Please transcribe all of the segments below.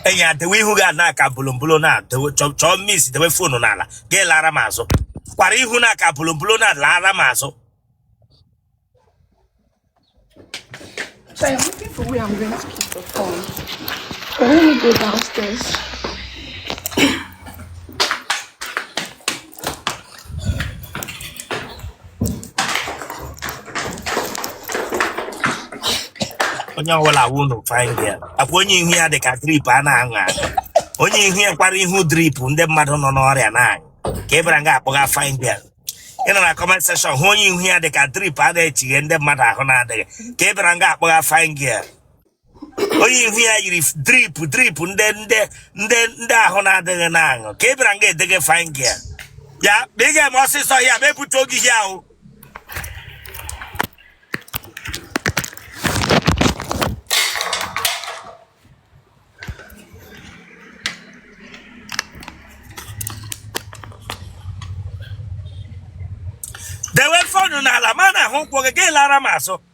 enyi ya dewe ihu gị ana ka bolombolo na dewe chọ- chọọ mis dewe fonu n'ala gị lara m azụ kwara ihu na ka bolombolo na lara m azụ So I'm looking for where I'm going to keep the phone. But let me go downstairs. onye ọbụla wụ unu fine girl akwa onye ihu ya dị ka drip a na-aṅụ aṅụ onye ihu ya yikwara ihu drip ndị mmadụ nọ n'ọrịa na-aṅụ ka ị bịara nga akpọgha fine girl ị nọ na comment section hụ onye ihu ya dị ka drip a na-echighe ndị mmadụ ahụ na-adịghị ka ị bịara nga akpọgha fine girl onye ihu ya yiri drip drip ndị ndị ndị ndị ahụ na-adịghị na-aṅụ ka ị bịara nga edege fine girl oya ma ị ga-eme ọsịsọ oya ma ebute oge ihe ahụ dewe fonu n'ala ma na-ahụ ụkwụ gị gị lara m azụ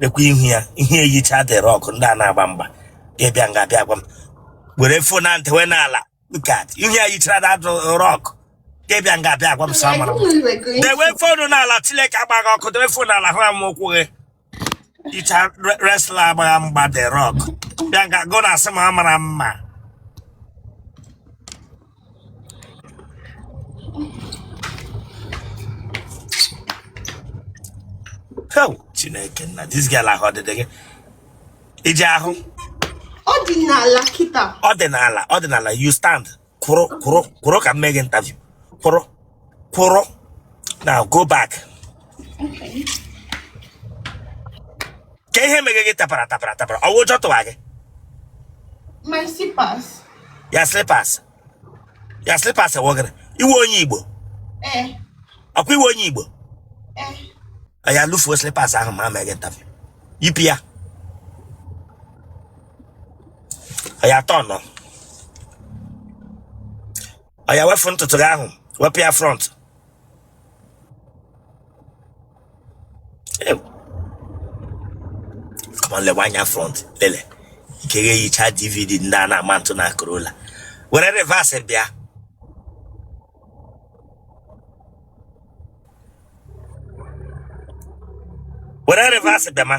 lekwa ihu ya ihe eyicha The Rock ndị a na-agba mgba gị abịa nga abịa gwa m were fon na ntị wee n'ala look at ihu ya yichara The Rock gị abịa nga abịa gwa m sị ọ mara mma dewe fonu n'ala Chineke gbaa gị ọkụ dewe fonu n'ala hụ m ụkwụ gị yicha wrestler agbagha mgba The Rock bịa nga gị na-asị m ọ mara mma chineke nna this girl ahụ ọ dịdị gị i ji ahụ ọ dị n'ala kịta ọ dị n'ala ọ dị n'ala you stand kwụrụ kwụrụ kwụrụ ka m mee gị interview kwụrụ kwụrụ na go back kee ihe meghe gị tapara tapara tapara ọ wụ ụjọ tụwa gị my slippers ya slippers ya slippers ewegara ị wụ onye igbo eh ọkwa ị wụ onye igbo eh oya lufuo slippers ahụ ma meghe interview yipụ ya oya turn oya wefu ntutu gị ahụ wepụ ya front Ew, come on lewe anya front lele ike gị eyicha dvd ndị a na-ama ntụ na Corolla were reverse bịa were reverse bịa ma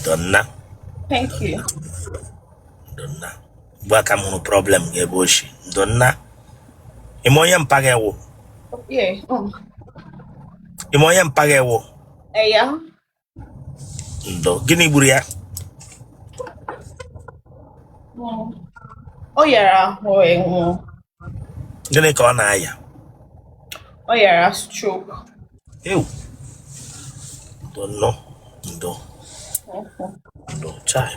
ndo nna thank you ndo nna ugbu a ka m hụrụ problem gị ebe o shi ndo nna ime onye mpa gị ewu yeah um, ime onye mpa gị ewu eh, yeah ndo gịnị gburu ya um, ọ yara ahụ ewu gịnị ka ọ na-aya ọ yara stroke ewu ndo ndo ndo ndo chai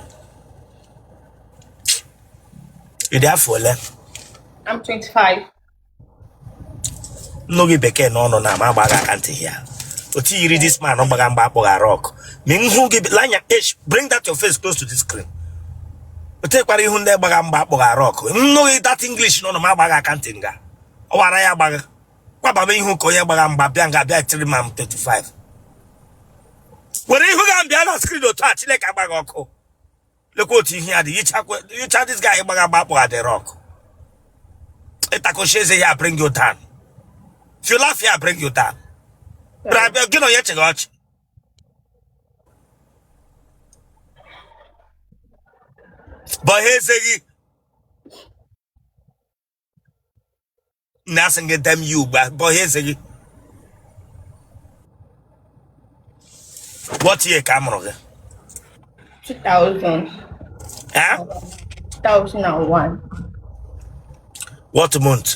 ị dị afọ ole I'm 25 m nụ gị bekee n'ọnụ na m agba gị aka ntị ya otu i yiri this man ọ gbagha mgba akpọghara ọkụ ma m hụ gị l'anya esh bring that your face close to the screen otekwara ihu ndị gbagha mgba akpọghara ọkụ m nụ gị that English n'ọnụ m agba gị aka ntị nga ọ wara ya agbagha kwababa ihu ka onye gbagha mgba bịa nga bịa tiri I'm 25 were ihu gị bịa na screen otu a Chineke agba gị ọkụ lekwa otu ihu ya dị yicha this guy gbagha mgba akpọghara ọkụ ịtakochi eze ya bring you down if you laugh ya bring you down bịa gị na onye chịgha ọchị gbaghe eze gị na asị gị dem ya ugbu a gbaghe eze gị what year ka a mụrụ gị 2000, Eh? 2001, what month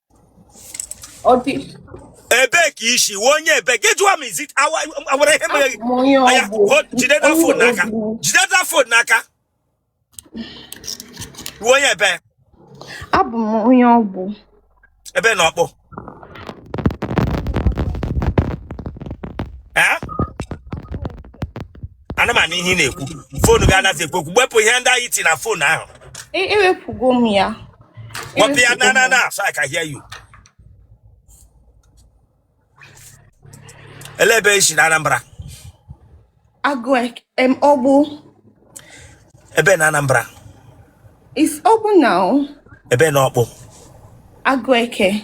ebee ka i si ị wụ onye ebee gị jụọ m izi awara ihe mere gị jide that phone n'aka jide that phone n'aka ị wụ onye ebee abụ m onye ọgbụ ebe na ọkpụ ana m anụ ihe ị na-ekwu foonu gị anaghị ekwu okwu wepụ ihe ntị ahụ i ti na foonu ahụ E- ewepụgo m ya wepụ ya na na na so I can hear you olee ebe i si na Anambra agụ ek- em ọgbụ ebe na Anambra is ọgbụ na o ebe na ọkpụ agụ eke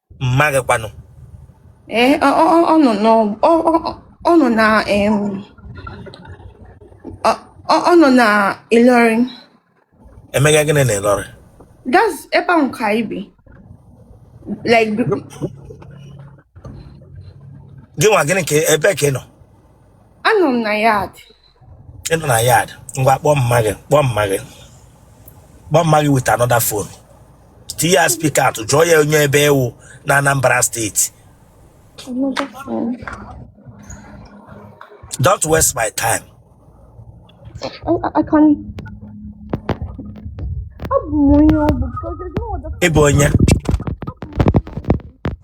mma gị kwanụ ee ọ- ọ- ọ- ọ nọ n'ọ- ọ- ọ- ọ nọ na em, ọ ọ- ọ nọ na Ilorin emega gịnị na Ilorin that's ebe ahụ ka anyị bi like b- gị nwa gịnị ka ebee ka ị nọ anọ m na yard ị nọ na yard ngwa kpọọ mma gị kpọọ mma gị kpọọ mma gị with another phone tinye ya speak out jụọ ya onye ebe ị wụ na Anambra steeti Another phone. don't waste my time Oh, I, I can. Abụ m onye ọ bụ because there's no other ị bụ onye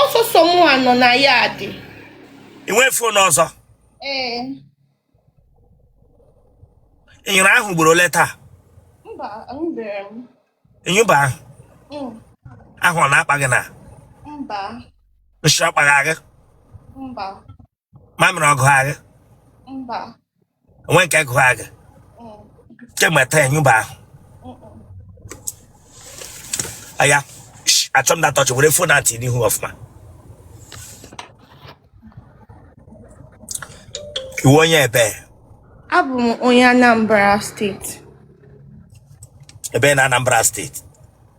ọ sọsọ mụa nọ na yard i nwee fon ọzọ ee ị nyụrụ ahụ ugboro ole taa mba anyụbeghị m ị nyụba ahụ Mm, ahụ ọ na-akpa gị na mba nshị ọ kpagha gị mba mamịrị ọ gụgha gị mba o nwee nke gụgha gị mm, kemgbe taa ị nyụba ahụ mm, mm. oya shh, achọ m na tọchị were fon atị n'ihu ọfụma ị wụ onye ebe abụ m onye anambra steeti ebe na anambra steeti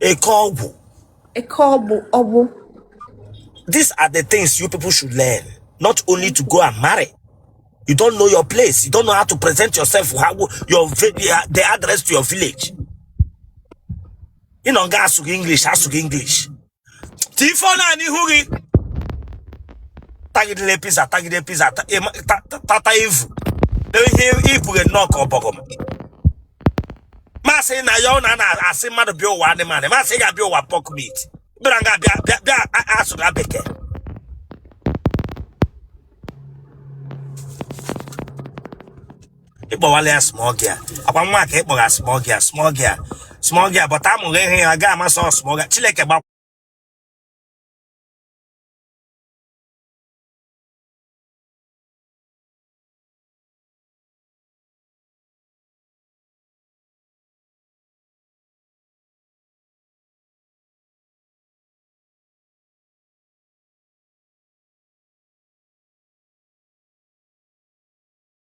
eke ọgwụ eke ọgbụ ọgbụ these are the things you people should learn not only to go and marry you don't know your place you don't know how to present yourself how your vi- the address to your village ị nọ nga asụghị english asụghị english tifo naanị ihu gị tagidere pizza tagide pizza ta- ịma- ta- ta- tata ivu ihe i bughe nnọọ ka ọbọgọm ma asị na ya ọ na na-asị mmadụ bịa ụwa animal ma asị ị ga-abịa ụwa pork meat bịara nga bịa bịa bịa a- asụga bekee ị kpọwala ya small girl ọ kwa mụnwa ka ị kpọga small girl small girl small girl but amụghị ihe ya ga amasị ọ small girl chineke gba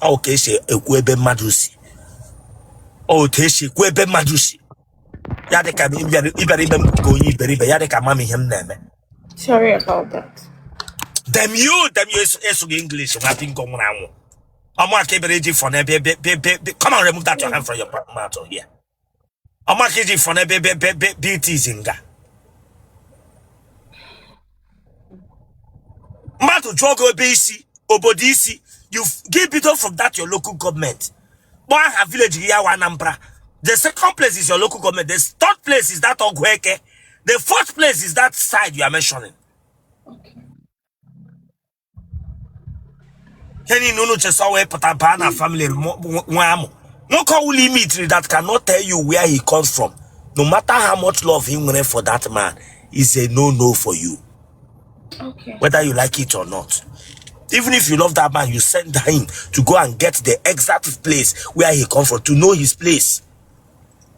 ọ ka e si ekwu ebe mmadụ si ọ otu e si ekwu ebe mmadụ si ya dị ka m ị bịara ị bịara ime m ka onye iberibe ya dị ka m ama ihe m na-eme Sorry about that. damn you damn you ị sụ- ị sụga english nwa bingo nwụrụ anwụ ọ mụa ka ị bịara iji fọne be be be be come on remove that your hand from your mouth here ọ mụa ka iji fọne be be be be be it is nga mmadụ jụọ gị ebe i si obodo i si you f- gị bido from that your local government kpọọ aha village gị ya wa anambra the second place is your local government the third place is that ọgụeke the fourth place is that side you are mentioning Okay. ihe niile unu chesa wee pụta baa na family mo- nwa nwa amụ nwoke ọwụla ime itiri that cannot tell you where he comes from no matter how much love he nwere for that man is a no no for you Okay. whether you like it or not even if you love that man you send him to go and get the exact place where he come from to know his place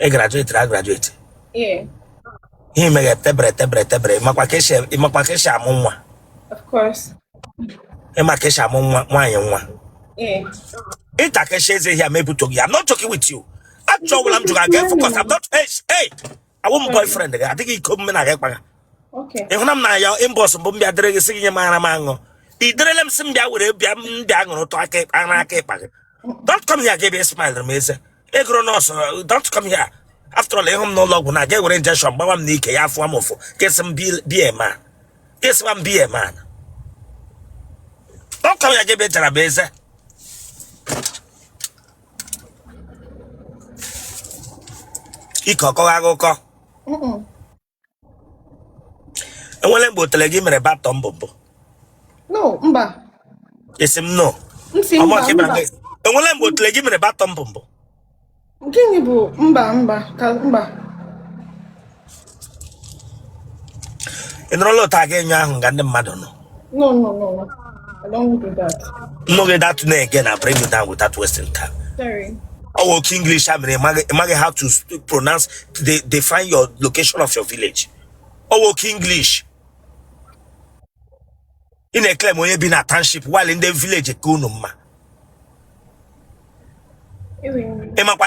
ị grajuetiri a grajueti Yeah, ihe meghe tebere tebere tebere ịmakwa ka esi ịmakwa ka esi amụ nwa of course. ịma ka esi amụ nwa nwaanyị nwa Yeah. ịma ka esi eze ihe a mebutoghi ya I'm not joking with you ajụjụ ọbụla m jụrụ aga efokọs I'm not hey hey awụ m boyfriend gị adịghị iko mme na gị kpaga Okay. ị hụna m na ya inbox mbụ m bịa deere gị sị gị nye m ara m aṅụ i derele m sị m bịa were bịa m bịa ṅụrụ tụ aka ịkpa- ara aka ịkpa gị don't come here gebe smile m eze egoro nọọsụ uh, don't come here after all ịhụ m n'ụlọ ọgwụ nga ewere injection gbawa m n'ike ya afụwa m ụfụ kesị m bie ma kesịwa m bie ma don't come here gebe jara m eze ike ọkọghị akụkọ enwere mgbe otele gị mere batọ mbụ mbụ no mba esi m no ntị mba mba enwere mgbe otele gị mere batọ mbụ mbụ gịnị bụ mba mba ka mba ị nọrọla otu a gị anyụọ ahụ nga ndị mmadụ nọ No, no, no, no. I don't do that. No, get that name again. I bring you down with that Western cap. Sorry. Oh, okay, English. I mean, I how to pronounce, they define your location of your village. Oh, okay, English. ị na-eklem onye bi na township while ndị village ka unu mma ịmakwa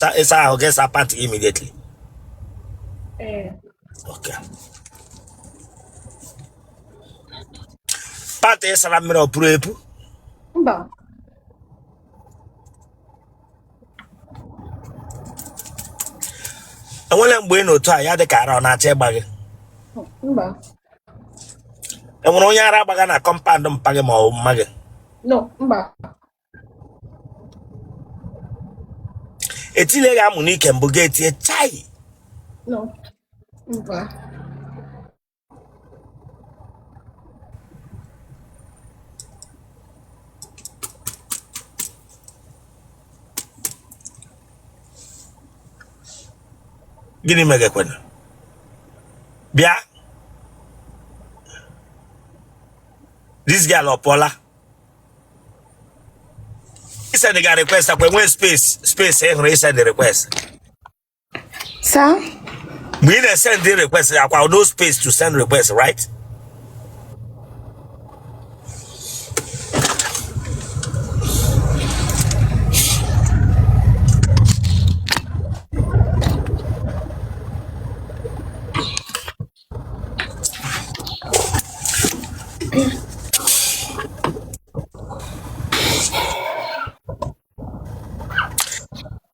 Sa- ịsa ahụ gị sa pant immediately Ee. okay. pant ịsara mmiri o puru epu Mba. enwere mgbe ị nọ otu a ya dị ka ara ọ na-achọ ịgba gị enwere onye ara agbaga na kọmpandụ mpa gị ma ọ bụ mma gị etile gị amụ n'ike mbụ gị etie chai gịnị megekwana bịa this girl ọpụọla isend ga request akwa enwe space space ị hụrụ isend request Sir? mgbe ị na-esend the request akwa no space to send request right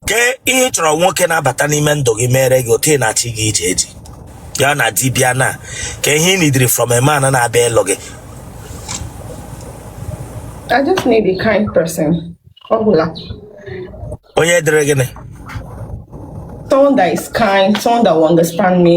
kee ihe ị chọrọ nwoke na-abata n'ime ndụ gị meere gị otu ị na-achị gị ije eji ya na dibịa na kee ihe ị nidiri from a man na-abịa ịlụ gị I just need a kind person. Ọ gwụla. onye dịrị gịnị Someone that is kind, someone that will understand me.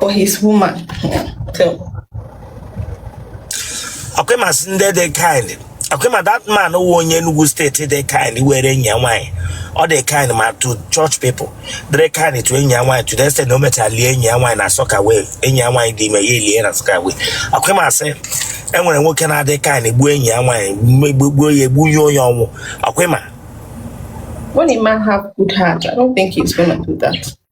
for his woman. So, ọkwa ị ma sị ndị dị kind ọkwa ị ma that man wụ onye Enugu steeti dị kind were enyi ya nwaanyị ọ dị kind ma to church people dịrị kind to enyi ya nwaanyị to the extent na o mechara lie enyi ya nwaanyị na soakaway enyi ya nwaanyị dị ime ya elie na soakaway ọkwa ị ma sị e nwere nwoke na-adị kind gbuo enyi ya nwaanyị megbu- gbuo ya egbu ya onye ọnwụ ọkwa ị ma when a man have good heart, I don't think he's gonna do that.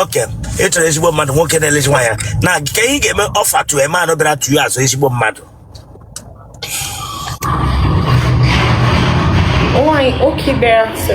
okay ị chọrọ ezigbo mmadụ nwoke na-elezi nwaanyị anya kee ihe ga-eme offer two men bịara tụọ azụ ezigbo mmadụ Why? Okay, better. So